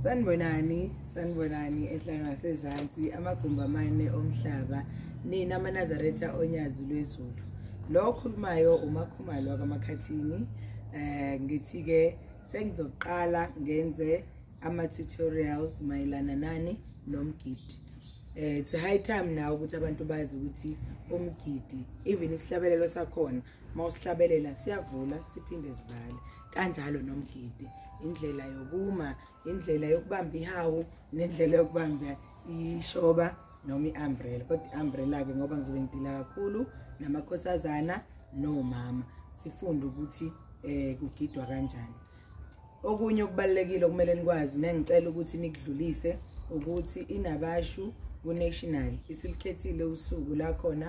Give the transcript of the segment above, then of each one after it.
sanibonani sanibonani ehlanga sezansi amagumbi amane omhlaba nina amanazaretha onyazi lwezulu lo okhulumayo umakhumalo wakamakhathini um eh, ngithi-ke sengizoqala ngenze ama-tutorials mayelana nani nomgidi um eh, it's high time nawo ukuthi abantu bazi ukuthi umgidi even isihlabelelo sakhona uma usihlabelela siyavula siphinde sivale kanjalo nomgidi indlela yokuma indlela yokubamba ihawu nendlela yokubamba ishoba noma i-umbrella kodwa i-umbrella-ke ngoba ngizobe ngidila kakhulu namakhosazana nomama sifunde ukuthi um kugidwa kanjani okunye okubalulekile okumele nikwazi nengicela ukuthi nikudlulise ukuthi inabashu kunational isilikhethile usuku lakhona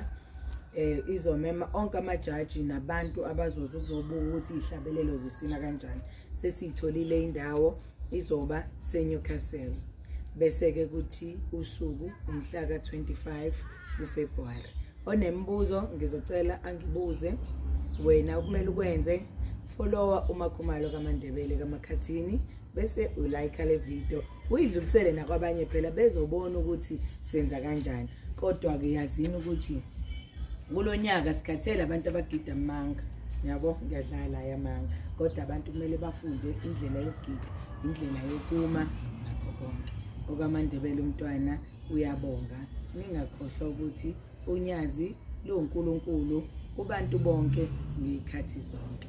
eh izomema onke amajaji nabantu abazoza ukuzobuka ukuthi ihlabelelo zisina kanjani sesiyitholile indawo izoba seNewcastle bese ke kuthi usuku umhla ka25 kuFebruary onemibuzo ngizocela angibuze wena kumele ukwenze follower umakhumalo kaMandebele kaMakhathini bese ulike le video uyidlulisele nakwabanye phela bezobona ukuthi senza kanjani kodwa-ke yazini ukuthi kulo nyaka sikhathele abantu abagida amanga yabo ngiyadlala yamanga kodwa abantu kumele bafunde indlela yokugida indlela yokuma nakho konke okwamandebele umntwana uyabonga ningakhohlwa ukuthi unyazi luwunkulunkulu kubantu bonke ngey'khathi zonke